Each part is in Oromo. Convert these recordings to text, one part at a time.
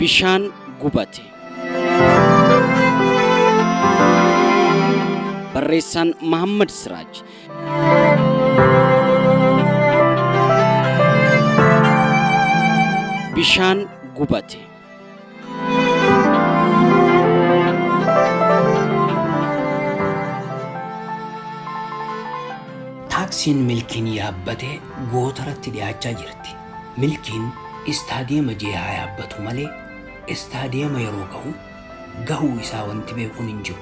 Bishaan gubate. Barreessaan Mahammad Siraaj. Bishaan gubate. Taaksiin Milkiin yaabbate gootaratti dhiyaachaa jirti. Milkiin istaadiyeema J haa yaabbatu malee istaadiyeema yeroo gahu gahuu isaa wanti beekuun hin jiru.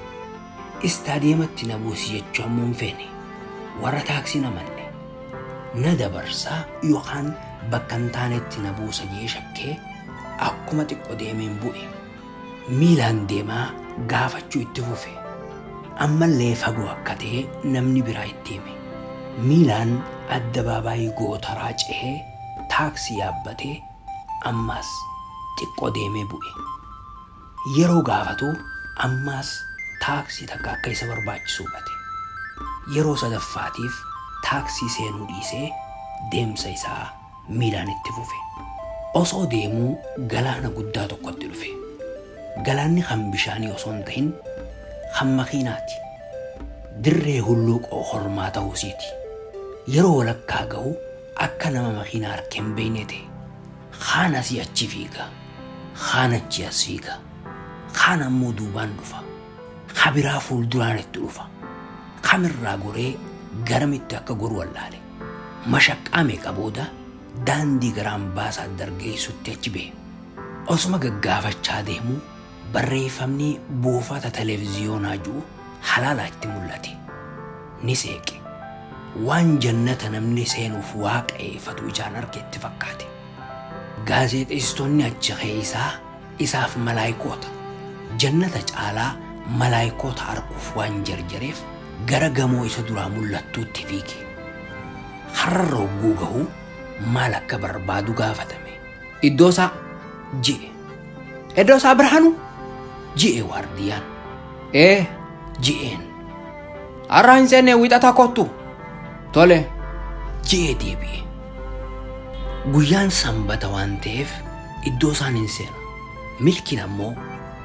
Istaadiyeematti na buusi jechuu ammoo hin feene. Warra taaksiin amanne. Na dabarsaa yookaan bakka hin taanetti na buusa jee shakkee akkuma xiqqo deemeen bu'e. Miilaan deemaa gaafachuu itti fufe. Ammallee fagoo akka ta'e namni biraa itti hime. Miilaan addabaabaayii gootaraa cehee taaksii yaabbatee ammaas xiqqo deemee bu'e. Yeroo gaafatu ammaas taaksii takka akka isa barbaachisu hubate. Yeroo sadaffaatiif taaksii seenuu dhiisee deemsa isaa miilaan itti fufe. Osoo deemuu galaana guddaa tokkotti dhufe. Galaanni kan bishaanii osoo hin tahin kan makiinaati. Dirree hulluuqoo kormaa tahuusiiti. Yeroo walakkaa gahu akka nama makiinaa arke hin beeynee tahe. Kaan asii achi fiiga. Kaan achii as fiiga. Kaan ammoo duubaan dhufa. Ka biraa fuulduraan itti dhufa. Kamirraa goree garamitti akka goru wallaale. Mashaqqaa meeqa booda daandii gara ambaasaadar geessutti achi bahe. Osuma gaggaafachaa deemuu Barreeffamni buufata televiziyoonaa ju'u halaalaa itti mullate. Ni seeqe. Waan jannata namni seenuuf waaqeeyfatu ijaan arge itti fakkaate. Gaazeexeessitoonni achi keeysaa isaaf malaaykoota. Jannata caalaa malaaykoota arkuuf waan jarjareef gara gamoo isa duraa mullattuutti fiige. Karrarra hogguu gahu maal akka barbaadu gaafatame. Iddoo isaa je'e. Edoosaa Birhaanuu ji'ee waardiyyaan. Ee ji'een. Har'a hin seenne wixata kottu. Tole ji'ee deebi'e. Guyyaan sanbata waan ta'eef iddoo isaan hin seenu. Milkiin ammoo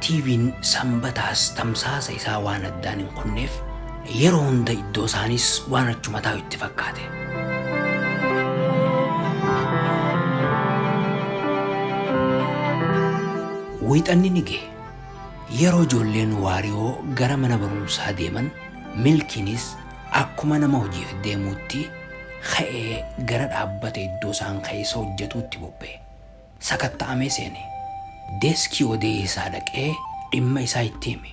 TV'n sanbataas tamsaasa isaa waan addaan hin kunneef Yeroo hunda iddoo isaaniis waan achuma taa'u itti fakkaate. Wiixanni ni gahe. Yeroo ijoolleen waariyoo gara mana barumsaa deeman milkiinis akkuma nama hojiif deemuutti ka'ee gara dhaabbata iddoo isaan keessa hojjetuutti bobba'e. sakatta'amee seene. Deeskii odeessaa dhaqee dhimma isaa itti hime.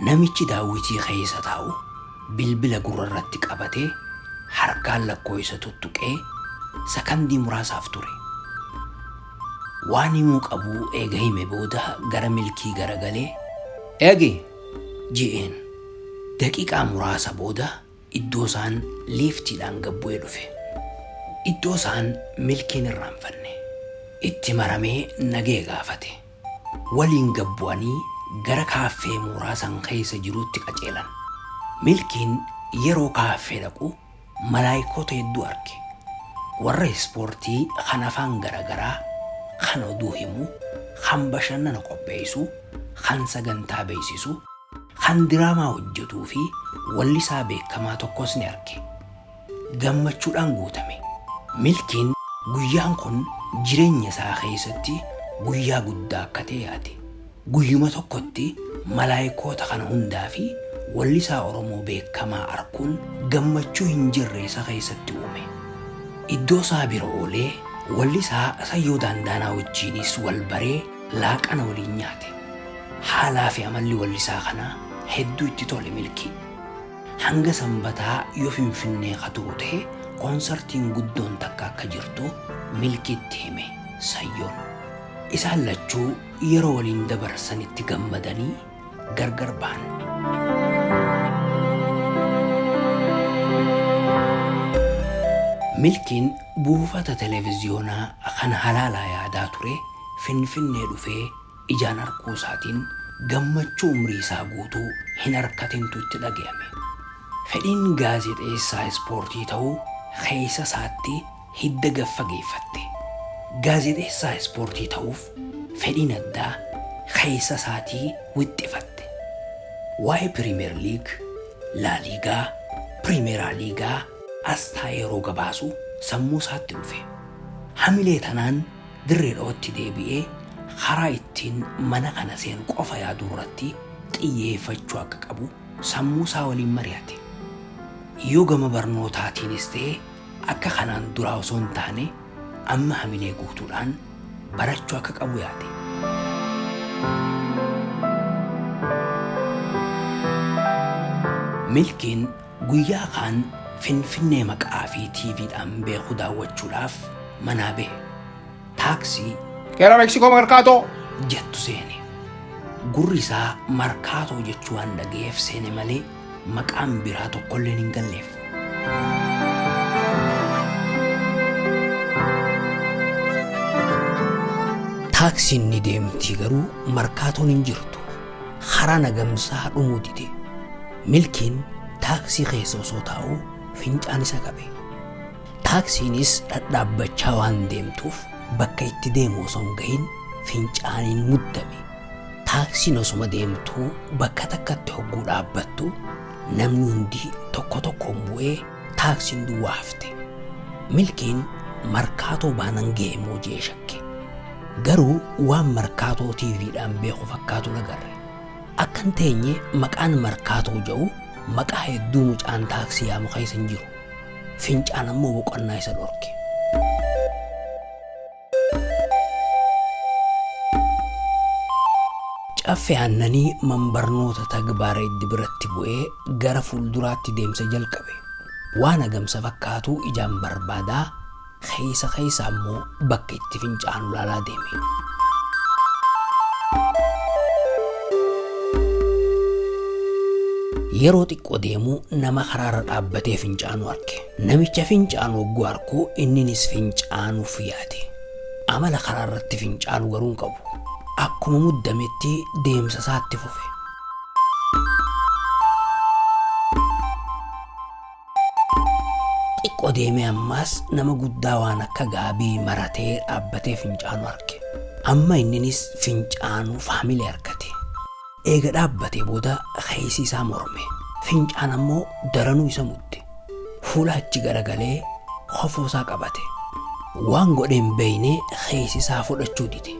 Namichi daawwitii keessa taa'u bilbila gurrarratti qabatee harkaan lakkooysa tuttuqee sakandii muraasaaf ture. Waan himuu qabu eega hime booda gara Milkii garagalee, Eegi! je'een. Daqiiqaa muraasa booda Iddoo isaan liiftiidhaan gad bu'ee dhufe. Iddoo isaan milkiin irraanfanne. Itti maramee nagaya gaafate. Waliin gad bu'anii gara kaaffee mooraa san keessa jiruutti qaceelan. Milkiin yeroo kaaffee dhaqu malaaykoota hedduu arge. Warra ispoortii kan afaan gara garaa, kan oduu himu, kan bashannana qopheessu, kan sagantaa beeksisu, Kan diraamaa hojjetuu fi wallisaa beekamaa tokkos ni arge. Gammachuudhaan guutame. Milkiin guyyaan kun jireenya isaa keessatti guyyaa guddaa akka ta'e yaade. Guyyuma tokkotti malaayikoota kana hundaa fi wallisaa Oromoo beekamaa arkuun gammachuu hin jirre isa keessatti uume. Iddoo isaa bira oolee wallisaa Sayyoo Daandaanaa wajjiinis wal baree laaqana waliin nyaate. Haalaa fi amalli wallisaa kanaa hedduu itti tole Milkii. Hanga Sanbataa yoo Finfinnee ka turu ta'e konsartiin guddoon takka akka jirtu Milkiitti hime Sayyoon. Isaan lachuu yeroo waliin dabarsanitti gammadanii. gargar ba'an. Milkiin buufata televiziyoonaa kan halaalaa yaadaa ture Finfinnee dhufee ijaan arguu isaatiin gammachuu umrii isaa guutuu hin arkatintu itti dhaga'ame. Fedhiin gaazexeessaa ispoortii ta'uu keessa isaatti hidda gad fageeffatte. Gaazexeessaa ispoortii ta'uuf fedhiin addaa keessa isaatii wixxifatte. Waa'ee Piriimeer Liig, Laaliigaa, Piriimeeraa Liigaa as taa'ee yeroo gabaasu sammuu isaatti dhufe. Hamilee tanaan Dirree Dhawatti deebi'ee karaa ittiin mana kana seenu qofa yaaduu irratti xiyyeeffachuu akka qabu sammuu isaa waliin mari'ate. Yoo gama barnootaatiinis ta'e Akka kanaan duraa osoo hin taane amma hamilee guutuudhaan barachuu akka qabu yaade. Milkiin guyyaa kaan Finfinnee maqaa fi TVdhaan beeku daawwachuudhaaf manaa bahe. Taaksii Gara Meksikoo Markaatoo. jettu seene. Gurri isaa markaatoo jechuu waan dhagayeef seene malee maqaan biraa tokkolleen hin galleef. Taaksiin ni deemti garuu markaatoon hin jirtu. Karaa nagamsaa dhumuu dide. Milkiin taaksii keessa osoo taa'u fincaan isa qabe. Taaksiinis dhadhaabbachaa waan deemtuuf bakka itti deemu osoo hin gahin fincaaniin muddame. Taaksiin osuma deemtuu bakka takkatti hogguu dhaabbattu namni hundi tokko tokkoon bu'ee taaksiin duwwaa hafte. Milkiin markaatoo baanan ga'e moo jee shakke. Garuu waan markaatoo TVdhaan beeku fakkaatu nagarre. Akkan teenye maqaan markaatoo ja'u maqaa hedduu mucaan taaksii yaamu keessa hin jiru. Fincaan ammoo boqonnaa isa dhorke. Caffe Aannanii manbarnoota tagbaara iddi biratti bu'ee gara fuulduraatti deemsa jalqabe. Waan agamsa fakkaatu ijaan barbaadaa keessa keessa ammoo bakka itti fincaanu laalaa deeme. Yeroo xiqqoo deemuu nama karaarra dhaabbatee fincaanu arge. Namicha fincaanu hogguu arku inninis fincaanuuf yaade. Amala karaa irratti fincaanu garuu hin qabu. Akkuma muddametti deemsa isaatti fufe. Xiqqoo deemee ammaas nama guddaa waan akka gaabii maratee dhaabbatee fincaanu arge. Amma inninis fincaanuuf hamilee argate. Eega dhaabbatee booda keessi isaa morme. Fincaan ammoo daranuu isa mudde. Fuula achi garagalee kofoo isaa qabate. Waan godhe hin beeyne keessi isaa fudhachuu dide.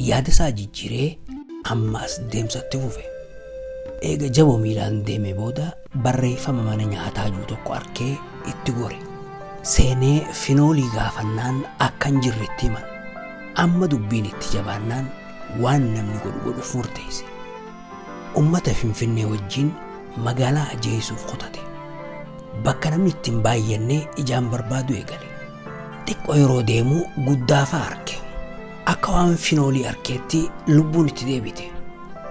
Yaada isaa jijjiiree ammaas deemsa itti fufe. Eega jaboo miilaan deeme booda barreeffama mana nyaataa jiru tokko arkee itti gore. Seenee finoolii gaafannaan akka hin jirre itti himan. Amma dubbiin itti jabaannaan waan namni godhu godhuuf murteesse. Ummata Finfinnee wajjin magaalaa ajeessuuf kutate. Bakka namni itti hin baay'annee ijaan barbaadu eegale. Xiqqoo yeroo deemu guddaafaa arke. Akka waan finoolii arkeetti lubbuun itti deebite.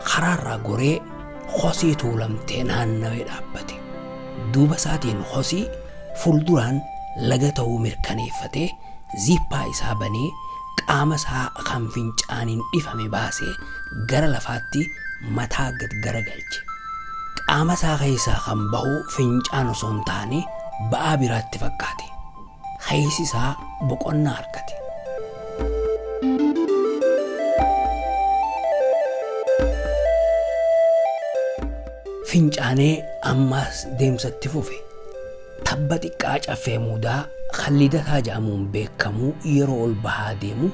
Karaarraa goree hosii tuulamtee naannawee dhaabbate. Duuba isaatiin hosii fuulduraan laga ta'uu mirkaneeffatee ziippaa isaa banee qaama isaa kan fincaaniin dhifame baasee gara lafaatti mataa gad garagalche. Qaama isaa keessaa kan bahu fincaan osoo hin taane ba'aa biraa itti fakkaate. Keessi isaa boqonnaa argate. Fincaanee ammaas deemsa itti fufe. Tabba xiqqaa Caffee Muudaa kan Lidataa jedhamuun beekamu yeroo ol bahaa deemu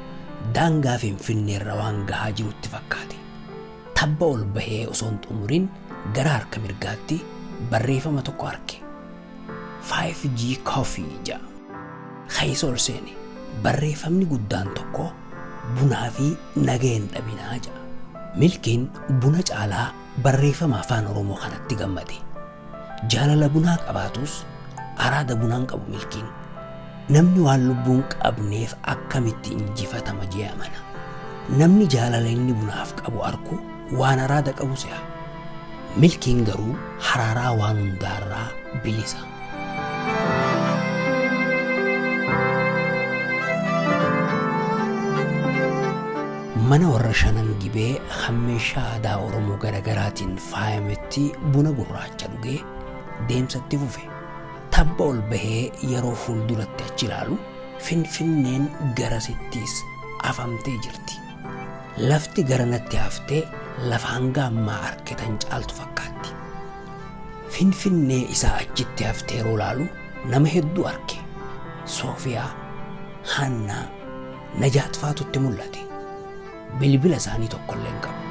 daangaa Finfinneerra waan gahaa jirutti fakkaate. Tabba ol bahee osoo hin xumurin gara harka mirgaatti barreefama tokko arke. 5G Coffee jedha. Keessa ol seene. Barreefamni guddaan tokko bunaa fi nagaya hin dhabinaa jedha. Milkiin buna caalaa barreefama Afaan Oromoo kanatti gammade. Jaalala bunaa qabaatus araada bunaa hin qabu milkiin. Namni waan lubbuu hin qabneef akkamitti injifatama jee amana. Namni jaalala inni bunaaf qabu arku waan araada qabu se'a. Milkiin garuu haraaraa waan hundaarraa bilisa. Mana warra Shanan Gibee kan meeshaa aadaa Oromoo garagaraatiin faayametti buna gurraacha dhugee deemsa itti fufe. Tabba ol bahee yeroo fuulduratti achi ilaalu Finfinneen garasittiis afamtee jirti. Lafti garanatti hafte lafa hanga ammaa arkitan caaltu fakkaatti. Finfinnee isaa achitti hafte yeroo ilaalu nama hedduu arke. Soofiyaa, Haannaa, Najaat faatu itti mul'ate. Bilbila isaanii tokkollee hin qabu.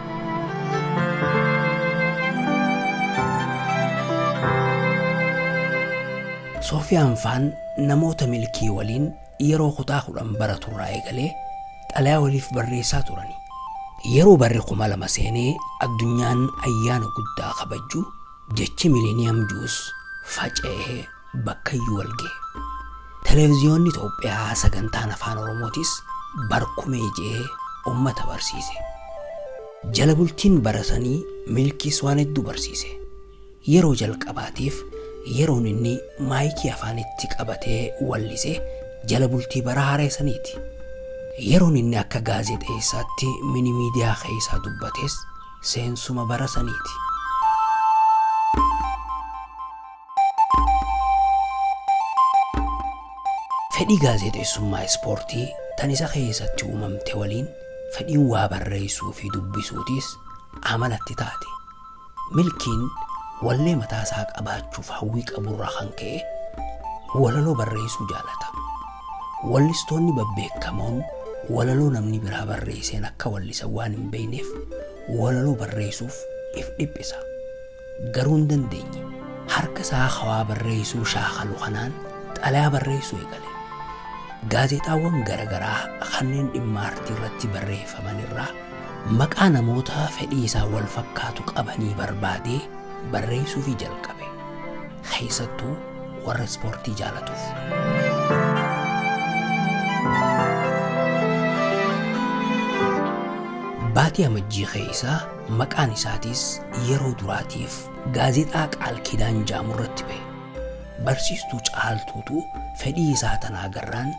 Soofiyaan faan namoota milkii waliin yeroo kutaa kudhan baratu irraa eegalee xalayaa waliif barreessaa turani. Yeroo barri kuma lama seenee addunyaan ayyaana guddaa kabajju jechi miliniyam juus faca'ee bakkayyuu walgahe. Televiziyoonni Itoophiyaa sagantaan Afaan Oromootis barkumee je'ee ummata barsiise. Jala bultiin bara sanii Milkiis waan hedduu barsiise. Yeroo jalqabaatiif yeroon inni maayikii afaanitti qabatee wallise jala bultii bara haaree saniiti. Yeroon inni akka gaazexeessaatti mini miidiyaa keessaa dubbates seensuma bara saniiti. Fedhii gaazexeessummaa ispoortii tan isa keessatti uumamte waliin fedhiin waa barreessuu fi dubbisuutis amalatti taate. Milkiin wallee mataa isaa qabaachuuf hawwii qaburraa kan ka'e walaloo barreessuu jaalata. Wallistoonni babbeekamoon walaloo namni biraa barreesseen akka wallisan waan hin beekneef walaloo barreessuuf if dhiphisa. Garuu hin dandeenye. Harka isaa ka waa barreessuu shaakalu kanaan xalayaa barreessuu eegale. Gaazexaawwan gara garaa kanneen dhimma aartii irratti barreeffaman irraa maqaa namoota fedhii isaa wal fakkaatu qabanii barbaadee barreessuufii jalqabe. Keessattuu warra ispoortii jaalatuuf. Baatii Amajjii keessa Maqaan isaatiis yeroo duraatiif gaazexaa Qaal Kiidaan jaamu irratti bahe. Barsiistuu Caaltuutu fedhii isaa tana agarraan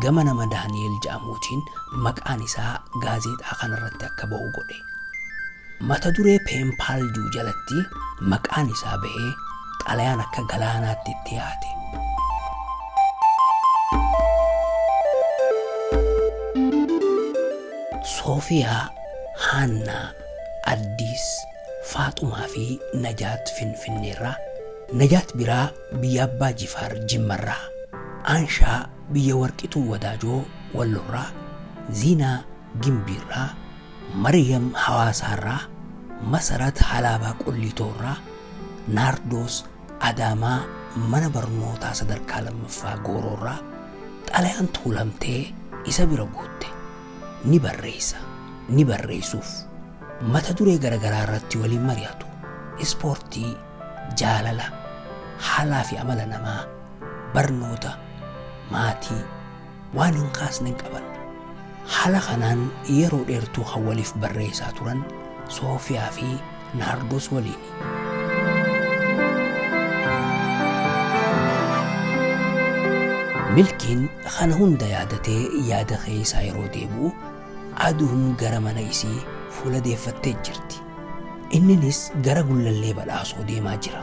gama nama Daani'eel jaamuutiin maqaan isaa gaazexaa kana irratti akka bahu godhe. Mata duree Peenpaal juu jalatti maqaan isaa bahee xalayaan akka galaanaatti itti yaate. Soofiyaa Haannaa, Addis, Faaxumaa fi Najaat Finfinneerraa, Najaat Biraa biyya Abbaa Jifaar Jimmarraa, Aanshaa biyya Warqituu Wadaajoo Wallorraa, Ziinaa Gimbiirraa, Maryam Hawaasaarraa, Masarat Halaabaa Qulliitoorraa, Naardoos Adaamaa Mana Barnootaa Sadarkaa Lammaffaa Gooroorraa xalayaan tuulamtee isa bira guutte. ni barreessa, ni barreessuuf, mata duree garagaraa irratti waliin mari'atu, ispoortii, jaalala, haalaa fi amala namaa, barnoota, maatii, waan hin kaasne hin qaban. Haala kanaan yeroo dheertuu kan waliif barreessaa turan Soofiyaa fi Naardoos waliini. Milkiin kana hunda yaadatee yaada keeysaa yeroo deebi'u aduun gara mana isii fuula deeffattee jirti. Inninis gara gullallee badhaasoo deemaa jira.